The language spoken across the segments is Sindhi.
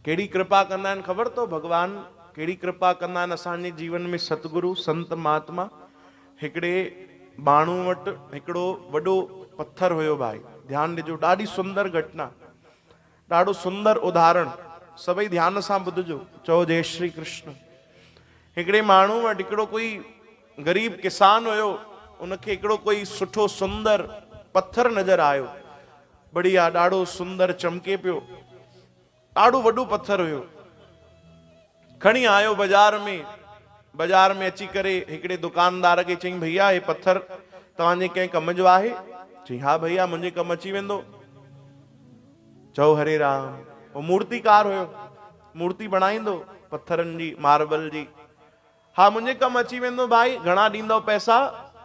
ڪهڙي ڪرپا ڪندا آهن خبر اٿو ڀڳوان ڪهڙي ڪرپا ڪندا آهن اسان جي جيون ۾ ستگرو سنت مهاتما هڪڙي ٻانهو وٽ هڪڙو وڏو پٿر هيو ڀائي ڌيان ڏجو ڏاڍي سندر گهٽنا ڏاڍو سندر اداهرڻ سڀئي ڌيان سان ٻڌجو چئو جي شري ڪرشن هڪڙي ماڻهو وٽ هڪڙو ڪوئي غريب ڪسان هيو، ان کي هڪڙو ڪوئي سٺو سندر پٿر نظر آيو. بڙيا ڏاڙهو سندر چمڪي پيو. ڏاڙهو وڏو پٿر هيو. کڻي آيو بزار ۾. بزار ۾ اچي ڪري هڪڙي دڪاندار کي چئين ڀئيا هي پٿر توهان جي ڪنهن ڪم جو آهي؟ چئين ها ڀئيا منهنجي ڪم اچي ويندو. چئو هري رام. هو مورتيڪار هيو. مورتي بڻائيندو پٿرن جي، ماربل جي. ها منهنجي ڪم اچي ويندو ڀائي، گهڻا ڏيندو پئسا؟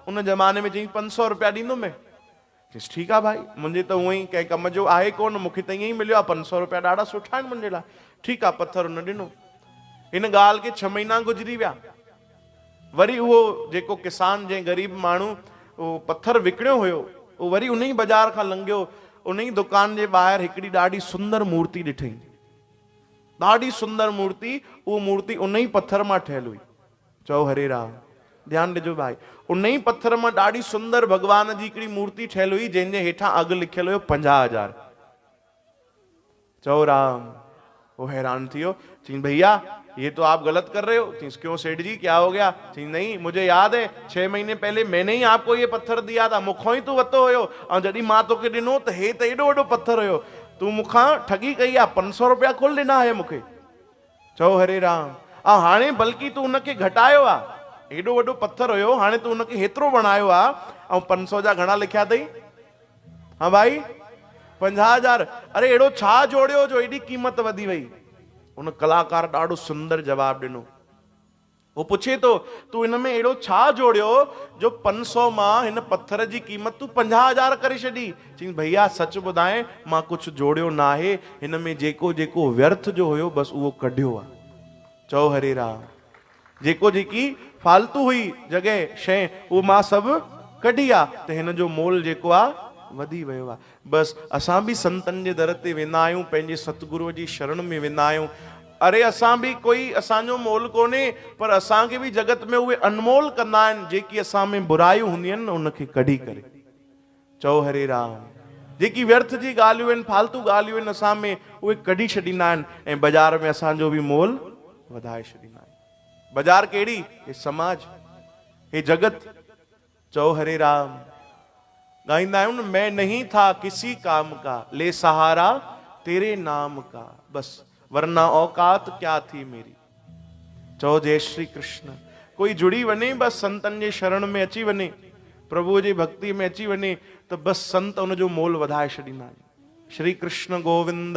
ان زماني ۾ چيائين پنج سؤ روپيا ڏيندو مين. چيس ٺيڪ آ ڀائي، منهنجي ته هونء ئي ڪنهن ڪم جو آهي ڪونه، مون کي ته ائين ئي مليو آ، پنج سؤ روپيا ڏاڍا سٺا آهن منهنجي لاء. ٺيڪ آ، پٿر ان ڏنو. هن ڳالهه کي ڇهه مهينا گذري ويا. وري اهو جيڪو ڪسان جنهن غريب ماڻهو اهو پٿر وڪڻيو هيو، اهو وري انهي بازار کان لنگهيو، انهي دڪان جي ٻاهر هڪڙي ڏاڍي سندر مورتي ڏٺئين. ڏاڍي سندر مورتي، اهو مورتي ان ئي پٿر مان ٺهيل هئي. چئو هري رام. ڌيان ڏجو ڀائي. ان ئي پٿر مان ڏاڍي سندر ڀڳوان جي هڪڙي مورتي ٺهيل هئي جنهن جي هيٺان اگهه لکيل هيو پنجاهه هزار. چئو رام. هو حيران ٿي ويو. چيائين ڀئيا يي تو آپ غلط ڪر رهي هو. چيس ڪيون سيٺ جي ڪيا هو گيا. چيائين نهين مجهي ياد هي ڇهه مهيني پهلي مين نهين آپ ڪو يي پٿر ديا ٿا. مون کان ئي تو وتو هيو ۽ جڏهين مان توکي ڏنو ته هي ته ايڏو وڏو پٿر هيو تون مون کان ٺڳي ڪئي آ، پنج سؤ روپيا ڪل ڏنا هيء مون کي. چئو هري رام آ هاڻي بلڪي تون ان کي گهٽايو آ، هيڏو وڏو پٿر هيو هاڻي تون ان کي هيترو بڻايو آ، آئون پنج سؤ جا گهڻا لکيا اٿئي؟ هان ڀائي! پنجاهه هزار! اري اهڙو ڇا جوڙيو جو ايڏي قيمت وڌي وئي؟ ان ڪلاڪار ڏاڍو سندر جواب ڏنو. هو پڇي ٿو، تون هن ۾ اهڙو ڇا جوڙيو، جو پنج سؤ مان هن پٿر جي قيمت تون پنجاهه هزار ڪري ڇڏي؟ چيائينس، ڀئيا سچ ٻڌاين، مان ڪجهه جوڙيو ناهي، هن ۾ جيڪو جيڪو ويرٿ جو هيو، بس اهو ڪڍيو آ. چؤ هري رام! جيڪو جيڪي فالتو هئي جڳهه، شيء، اهو مان سڀ ڪڍي آ، ته هن جو مول جيڪو آ، وڌي ويو آ. بس اسان به سنتن جي در تي ويندا آهيون پنهنجي ستگروء جي شرڻ ۾ ويندا آهيون اري اسان به ڪوئي اسان جو مول ڪونهي پر اسان کي به جڳت ۾ اهي انمول ڪندا آهن جيڪي اسان ۾ برايون هونديون آهن نه ان کي ڪڍي ڪري چئو هري رام جيڪي ويرٿ جي ڳالهيون آهن فالتو ڳالهيون آهن اسان ۾ اهي ڪڍي ڇڏيندا آهن ۽ بازار ۾ اسان جو به مول وڌائي ڇڏيندا آهن بازار ڪهڙي هي سماج هي جڳت چئو هري رام. ڳائيندا آهيون مئن نهين ٿا ڪسي ڪام ڪا، لي سهارا تيري نام ڪا، بس ورنا اوقات ڪيا ٿي ميري. چئو جئي شري ڪرشن. ڪوئي جڙي وڃي بس سنتن جي شرڻ ۾ اچي وڃي، پرڀوء جي ڀڳتيء ۾ اچي وڃي ته بس سنت ان جو مول وڌائي ڇڏيندا آهن. شري ڪرشن گووند.